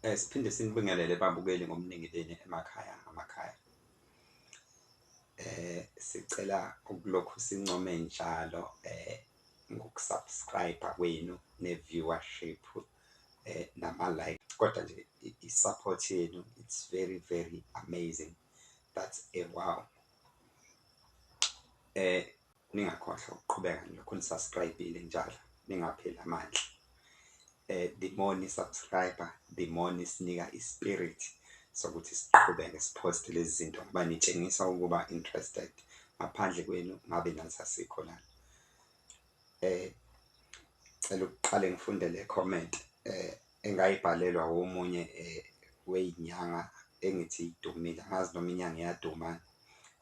Eh siphinde sinibingelele babukeli ngomningi leni emakhaya ngamakhaya. Eh sicela ukulokhu sincome njalo eh ngokusubscribe kwenu ne viewership eh nama like kodwa nje i support yenu it's very very amazing that's a wow. Eh Ningakhohlwa ukuqhubeka nilokhu nisubscribile njalo ningapheli amandla eh the more ni subscriber the more nisinika i spirit sokuthi siqhubeke sipost lezi zinto ngoba nitshengisa ukuba interested ngaphandle kwenu ngabe nathi asikho lana eh cela ukuqale ngifunde le comment eh engayibhalelwa omunye weyinyanga engithi idumile angazi noma inyanga iyaduma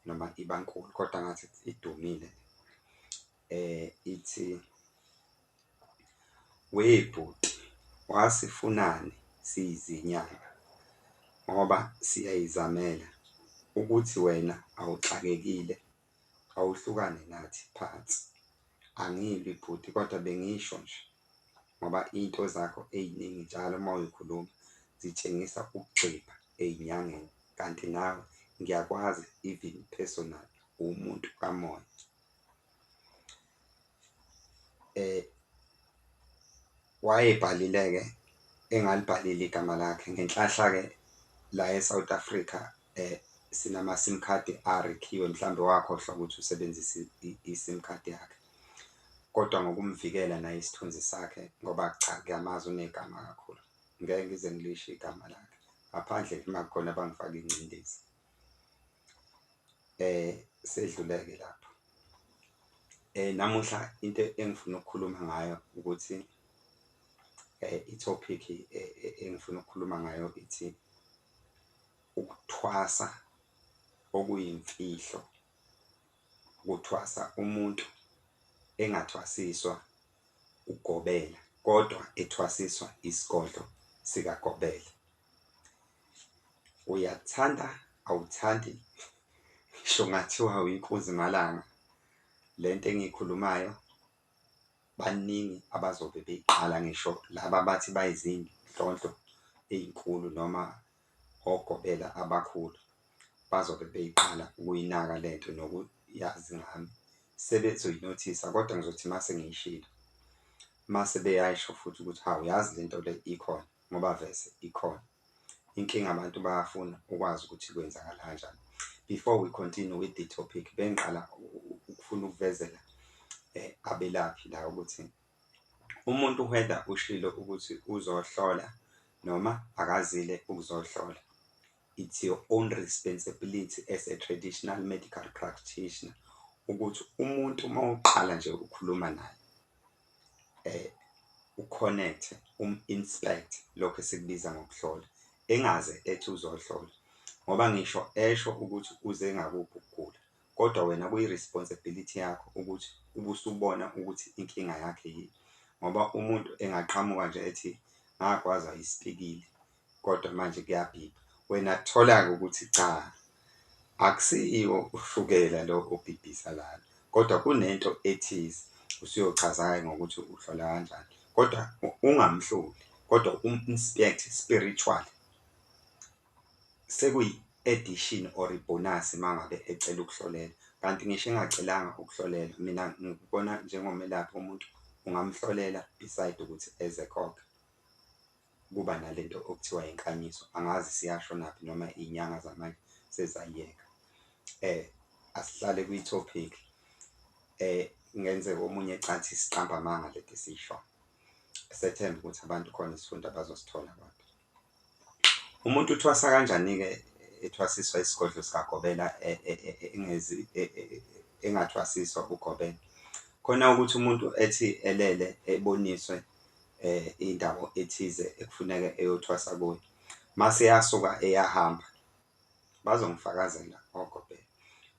noma iba nkulu kodwa ngathi idumile ithi webhuti wasifunani siyizinyanga ngoba siyayizamela ukuthi wena awuxakekile. awuhlukane nathi phansi angilwi bhuti kodwa bengisho nje ngoba into zakho eziningi njalo uma uyikhuluma zitshengisa ukugxipha ezinyangeni kanti nawe ngiyakwazi even personal uwumuntu kamoya. Wayebhalile-ke engalibhalile igama lakhe ngenhlahla-ke la e-South Africa sinama-sim card arekhiwe mhlawumbe wakhohlwa ukuthi usebenzise i-sim card yakhe, kodwa ngokumvikela naye isithunzi sakhe ngoba cha ngiyamazi unegama kakhulu, ngeke ngize ngilisho igama lakhe ngaphandle uma kukhona abangifaka ingcindezi. eh sedluleke lapho eh namuhla into engifuna ukukhuluma ngayo ukuthi eh itopic eh, eh, engifuna ukukhuluma ngayo ithi ukuthwasa okuyimfihlo ukuthwasa umuntu engathwasiswa ugobela kodwa ethwasiswa isigodlo sikagobela Uyakuthanda awuthandi ngisho kungathiwa uyinkunzi malanga le nto engiyikhulumayo baningi abazobe beyiqala ngisho laba abathi bayizinhlonhlo ey'nkulu noma ogobela abakhulu bazobe beyiqala ukuyinaka le nto nokuyazi ngami sebezoyinothisa kodwa ngizothi uma sengiyishilo uma sebeyayisho futhi ukuthi hawu yazi le nto le ikhona. ngoba vese ikhona inkinga abantu bayafuna ukwazi ukuthi kwenzakala kanjani before we continue with the topic bengiqala ukufuna ukuvezela eh, abelaphi la ukuthi umuntu whether ushilo ukuthi uzohlola noma akazile ukuzohlola It's your own responsibility as a traditional medical practitioner ukuthi umuntu uma uqala nje ukukhuluma naye eh uconnect um-inspect lokho esikubiza ngokuhlola engaze ethi uzohlola ngoba ngisho esho ukuthi uze ngakuphi ukugula kodwa wena kuyi-responsibility yakho ukuthi ubusubona ukuthi inkinga yakhe yini ngoba umuntu engaqhamuka nje ethi ngagwazwa isipikili Kodwa manje kuyabhibha wena kutholake ukuthi cha akusiyiwo ushukela lo obhibhisa lana kodwa kunento ethize usuyochaza-ke ngokuthi uhlola kanjani kodwa ungamhloli kodwa um-inspect spiritual sekuyi-edition or ibonus mangabe ecela ukuhlolela kanti ngisho engacelanga ukuhlolela mina ngikubona njengomelaphi umuntu ungamhlolela beside ukuthi eze khokhe Kuba nalento okuthiwa inkanyiso angazi siyashonaphi noma inyanga zamanje sezayiyeka asihlale kwi topic kungenzeka omunye ecathi isiqamba amanga leti esiyishoyo. Sethemba ukuthi abantu khona isifundo abazosithola abantu. Umuntu uthwasa kanjani-ke ethwasiswa isigodlo sikagobela engezi engathwasiswa ugobela. Khona ukuthi umuntu ethi elele eboniswe indawo ethize ekufuneka eyothwasa kuyo. Mase yasuka eyahamba bazongifakazela gogo bheka.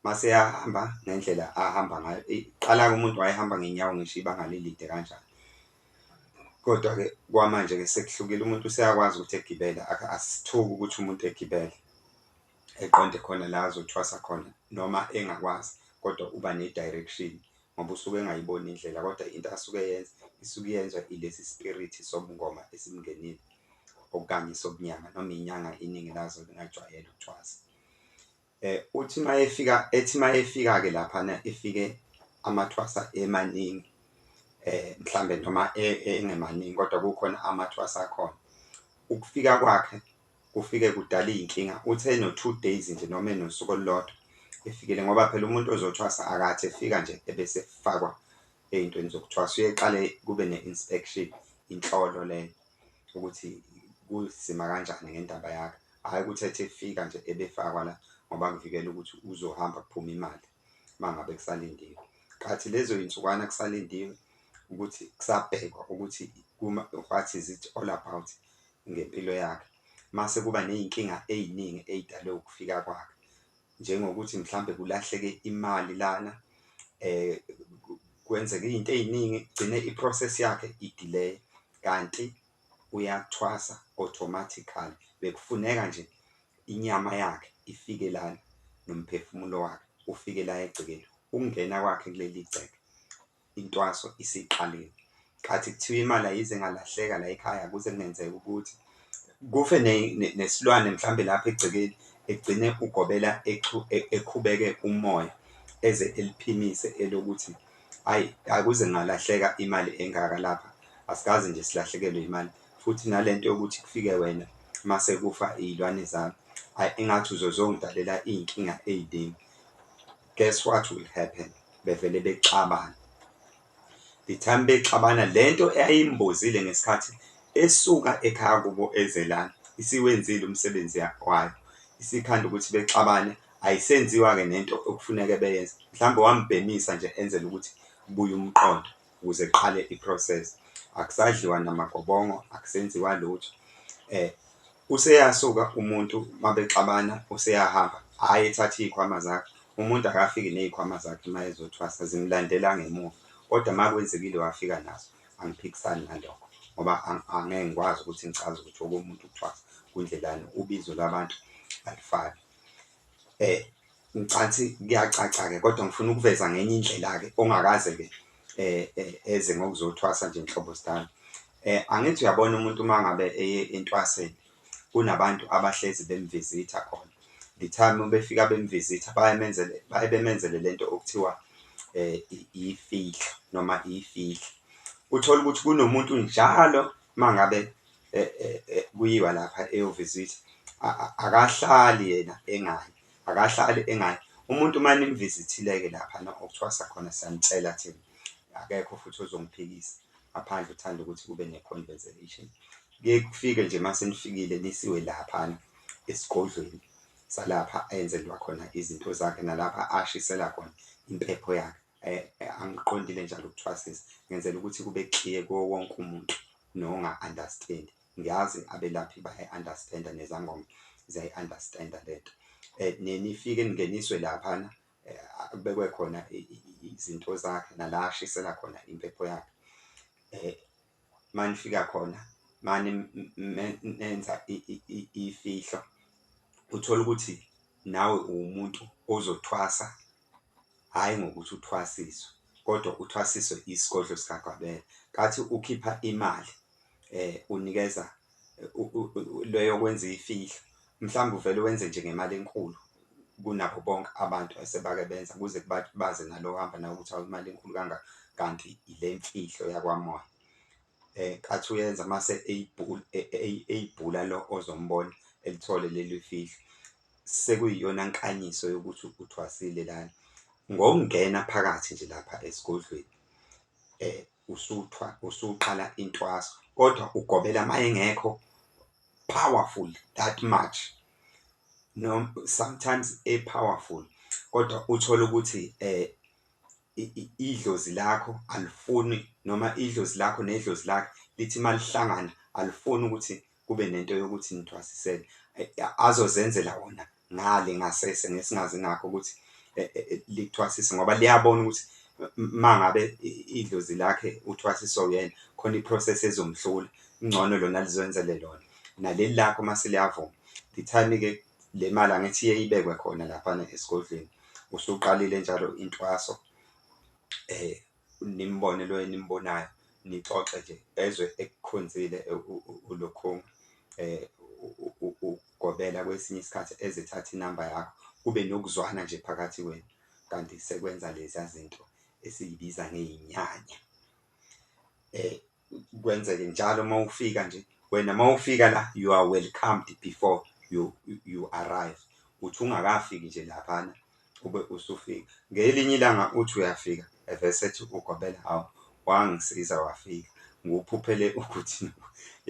Mase yahamba ngendlela ahamba ngayo. Iqala-ke umuntu wayehamba ngenyawo ngisho ibanga lelide kanjani. Kodwa-ke kwamanje-ke sekuhlukile umuntu useyakwazi ukuthi egibele asithuki ukuthi umuntu egibele eqonde khona la azothwasa khona noma engakwazi kodwa uba ne-direction ngoba usuke engayiboni indlela kodwa into asuke eyenza isuke iyenzwa ilesi spirit sobungoma esimngenile okanye sobunyanga noma inyanga iningi lazo lingajwayele ukuthwasa. Eh uthi mayefika ethi mayefika ke lapha na efike amathwasa emaningi eh mhlambe noma e, engemaningi kodwa kukhona amathwasa akhona ukufika kwakhe kufike kudala iy'nkinga uthi eno-two days nje noma enosuku olulodwa efikile ngoba phela umuntu ozothwasa akathi efika nje ebese efakwa ey'ntweni zokuthwasa uyeqale kube ne-inspection inhlolo leyo ukuthi kusima kanjani ngendaba yakhe, hhayi ukuthi ethi efika nje ebefakwa la ngoba kuvikela ukuthi uzohamba kuphume imali uma ngabe kusalindiwe. Kathi lezo zinsukwana kusalindiwe ukuthi kusabhekwa ukuthi what is it all about? ngempilo yakhe mase kuba nezinkinga eziningi ezidalwe ukufika kwakhe njengokuthi mhlambe kulahleke imali lana kwenzeke izinto eziningi gcine iprocess yakhe idelay kanti uyathwasa automatically bekufuneka nje inyama yakhe ifike lana nomphefumulo wakhe ufike la egcekeni ukungena kwakhe kuleli gceke intwaso isiqalile khathi kuthiwa imali ayize ngalahleka la ekhaya kuze kungenzeka ukuthi kufe nesilwane mhlambe lapha egcekeni egcine ugobela e, ekhubeke umoya eze eliphimise elokuthi ayi akuze ngalahleka imali engaka lapha asikaze nje silahlekelwe imali futhi nalento yokuthi kufike wena mase kufa izilwane zami ayi engathi uzozongidalela izinkinga eziningi Guess what will happen bevele bexabana the time bexabana lento eyayimbozile ngesikhathi esuka ekhaya kubo ezelana isiwenzile umsebenzi wayo isikhanda ukuthi bexabane ayisenziwa-ke nento okufuneke beyenze mhlawumbe wambhemisa nje enzela ukuthi kubuye umqondo ukuze kuqale iprocess akusadliwa namagobongo akusenziwa lutho eh useyasuka umuntu mabexabana useyahamba hhayi ethatha iy'khwama zakhe umuntu akafiki ney'khwama zakhe uma ezothwasa zimlandela ngemuva kodwa uma kwenzekile wafika nazo angiphikisani nalokho ngoba angeke ngikwazi ukuthi ngichaze ukuthi okomuntu ukuthwasa kundlelani ubizo lwabantu alifani um Ngicathi kuyacaca-ke kodwa ngifuna ukuveza ngenye indlela-ke ongakaze-ke eh, eh, eze ngokuzothwasa nje nhlobo sidala. Eh, angithi uyabona umuntu uma ngabe eye entwaseni kunabantu abahlezi bemvizitha khona. The time befika bemvizitha bayamenzele baye bemenzele lento okuthiwa eh ifihlo noma ifihlo. Uthola ukuthi kunomuntu njalo mangabe kuyiwa lapha eyovizitha akahlali yena engayi, akahlali engayi. Umuntu uma nimvizithile-ke laphana okuthwasa khona siyanicela thina, akekho futhi ozongiphikisa ngaphandle uthanda ukuthi kube ne-conversation. Kuye kufike nje uma senifikile nisiwe laphana esigodlweni salapha enzelwa khona izinto zakhe nalapha ashisela khona impepho yakhe. Angiqondile njalo ukuthwasisa ngenzela ukuthi kube clear kuwo wonke umuntu nonga understand ngiyazi abelaphi bayi understand nezangoma ziyayi understand lento nenifike ningeniswe laphana kubekwe khona izinto zakhe nala ashisela khona impepho yakhe manifika khona mani nenza ifihlo uthole ukuthi nawe uwumuntu ozothwasa hhayi ngokuthi uthwasiswe kodwa uthwasiswe isigodlo sikagwabela kathi ukhipha imali um unikeza Le yokwenza iy'fihlo mhlawumbe uvele wenze nje ngemali enkulu kunabo bonke abantu esebake benza kuze kubabaze nalo ohamba nawe ukuthi awu imali enkulu kangaka kanti ile mfihlo yakwamoya. Athi uyenza mase eyibhula lo ozombona elithole leli fihlo sekuyiyona nkanyiso yokuthi uthwasile lana. Ngokungena phakathi nje lapha esigodlweni . usuthwa usuqala intwaso kodwa ugobela mayengekho powerful that much no sometimes e powerful kodwa uthola ukuthi eh idlozi lakho alifuni noma idlozi lakho nedlozi lakhe lithi malihlangana alifuni ukuthi kube nento yokuthi nithwasisele azozenzela wona ngale ngasese ngesingazi ngakho ukuthi e, e, e, likuthwasise ngoba liyabona ukuthi mangabe idlozi lakhe uthwasiso yena khona iprocess ezomhlula ingcono lona lizwenzele lona naleli lakho uma seliyavuma the time ke le mali angithi iye ibekwe khona laphana esigodlweni usuqalile njalo intwaso eh Nimbone lo enimbonayo nixoxe nje ezwe ekukhonzile uLokhunga ugobela kwesinye isikhathi ezithatha inamba yakho kube nokuzwana nje phakathi kwenu kanti sekwenza leza zinto esiyibiza ngey'nyanya. kwenzeke njalo uma ufika nje wena uma ufika la you are welcomed before you, you arrive uthi ungakafiki nje laphana ube usufika ngelinye ilanga uthi uyafika evesethi ugobela hawu wangisiza wafika nguphuphele ukuthi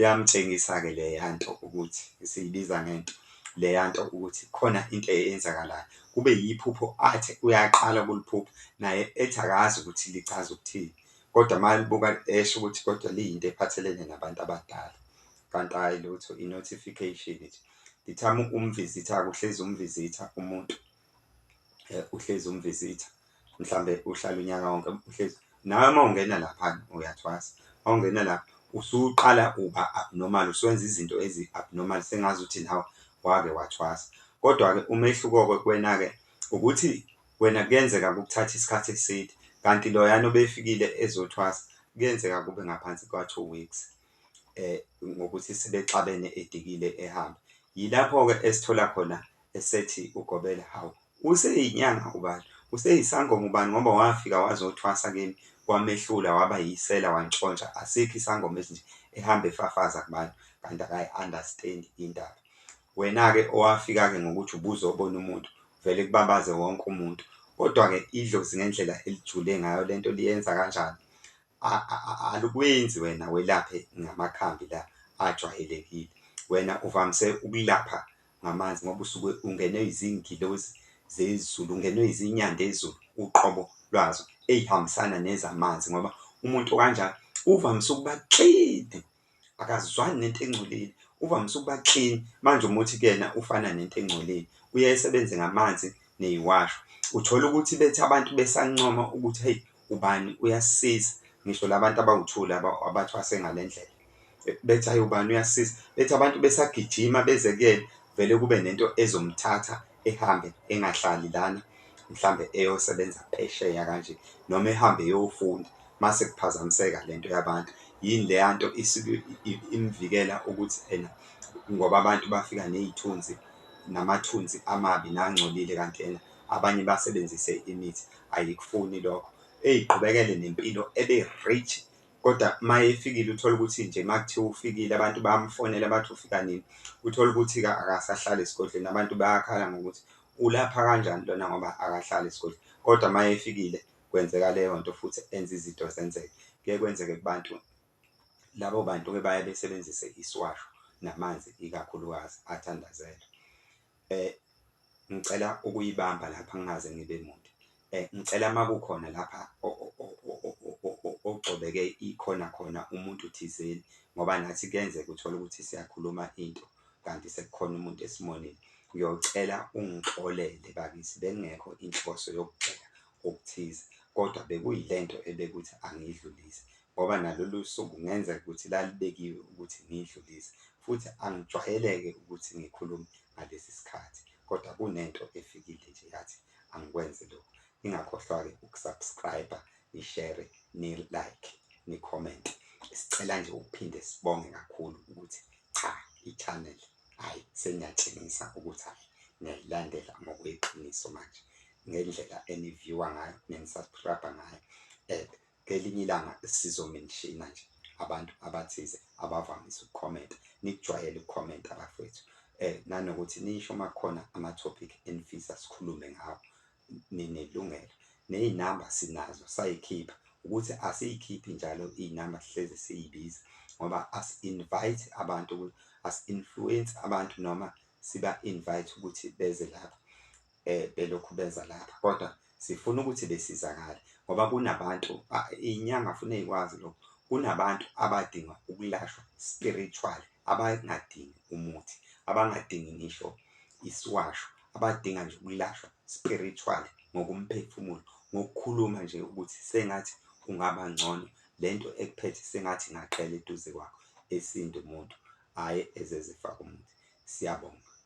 yamtshengisa-ke leya nto ukuthi siyibiza ngento leya nto ukuthi khona into eyenzakalayo kube yiphupho athi uyaqala ukuliphupha naye ethi akazi ukuthi lichaza ukuthini Kodwa uma libuka esho ukuthi kodwa liyinto ephathelene nabantu abadala kanti hhayi lutho i-notification nje. Ngithi ama umvizitha-ke uhlezi umvizitha umuntu eh, uhlezi umvizitha mhlawumbe uhlala unyaka wonke uhlezi nawe uma ungena laphana uyathwasa uma ungena lapha usuqala uba abnormal usuwenza izinto ezi-abnormal sengazi ukuthi nawe wake wathwasa. Kodwa-ke umehluko-ke kuwena-ke ukuthi Wena kuyenzeka kukuthathe isikhathi eside kanti loyana obefikile ezothwasa kuyenzeka kube ngaphansi kwa-two weeks um ngokuthi sebexabene edikile ehambe. Yilapho-ke esithola khona esethi ugobela hawu useyinyanga ubani useyisangoma ubani ngoba wafika wazothwasa kimi wamehlula waba yisela wantshontsha asikho isangoma esinje ehamba efafaza kubantu kanti akayi-understand indaba Wena-ke owafika-ke ngokuthi ubuzobona umuntu, uvele kubabaze wonke umuntu. Kodwa-ke idlozi ngendlela elijule ngayo le nto liyenza kanjani? Alikwenzi wena welaphe ngamakhambi la ajwayelekile. Wena uvamise ukulapha ngamanzi ngoba usuke ungenwe yizingilozi zezulu, ungenwe yizinyandezulu uqobo lwazo ey'hambisana nezamanzi ngoba umuntu okanjalo uvamise ukuba clean akazwani nento engcolile uvamise ukuba clean manje uma uthi kuyena ufana nento engcolile uye esebenze ngamanzi neyiwasho. Uthole ukuthi bethi abantu besancoma ukuthi heyi ubani uyasisiza ngisho la bantu abawuthuli abathwase ngale ndlela bethi hhayi ubani uyasisiza, bethi abantu besagijima beze kuyena vele kube nento ezomthatha ehambe engahlali lana mhlambe eyosebenza phesheya kanje noma ehambe eyofunda mase kuphazamiseka lento yabantu yini leya nto isuke imvikela ukuthi ena ngoba abantu bafika nezithunzi namathunzi amabi nangcolile kanti ena abanye basebenzise imithi ayikufuni lokho eyiqhubekele nempilo ebe rich Kodwa uma efikile uthole ukuthi nje uma kuthiwa ufikile abantu bamfonela bathi ufika nini, uthole ukuthi-ke akasahlali esigodlweni. Abantu bayakhala ngokuthi ulapha kanjani lona ngoba akahlali esigodlweni. Kodwa uma efikile kwenzeka leyo nto futhi enza izinto zenzeke. Kuye kwenzeke kubantu labo bantu-ke baye besebenzise isiwasho namanzi ikakhulukazi athandazelwe. Eh ngicela ukuyibamba lapha ngingaze ngibe muntu. Eh ngicela makukhona lapha ogcobeke ikhona khona umuntu thizeni ngoba nathi kuyenzeka uthole ukuthi siyakhuluma into kanti sekukhona umuntu esimonile. Ngiyocela ungixolele bakithi bekungekho inhloso yokugxeka okuthize, kodwa bekuyile nto ebekuthi angiyidlulise, ngoba nalolu suku kungenzeka ukuthi lalubekiwe ukuthi ngiyidlulise, futhi angijwayele-ke ukuthi ngikhulume ngalesi sikhathi, kodwa kunento efikile nje yathi angikwenze lokhu. Ningakhohlwa-ke ukusubscriber, nishere, nilike, nikhomente. Sicela nje ukuphinde sibonge kakhulu ukuthi cha i-channel hhayi seniyatshengisa ukuthi hhayi niyayilandela ngokweqiniso manje. ngendlela eniviewer ngayo nenisubscriber ngayo and ngelinye ilanga sizomenshina nje abantu abathize abavamise ukukhomenta nikujwayele ukukhomenta bafethu eh nanokuthi nisho uma khona ama-topic enifisa sikhulume ngawo ninelungelo ney'namba sinazo sayikhipha ukuthi asiyikhiphi njalo iy'namba sihlezi siyibiza ngoba asi-invite abantu asi-influence abantu noma siba-invite ukuthi beze lapha eh, belokhu beza lapha kodwa sifuna ukuthi besizakale ngoba kunabantu inyanga funa ikwazi lokho kunabantu abadinga ukulashwa spiritual abangadingi umuthi abangadingi ngisho isiwasho abadinga nje ukulashwa spiritual ngokumphefumulo ngokukhuluma nje ukuthi sengathi ungaba ngcono lento ekuphethe sengathi ngaqela eduze kwakho esintu umuntu hhayi ezezifaka umuthi siyabonga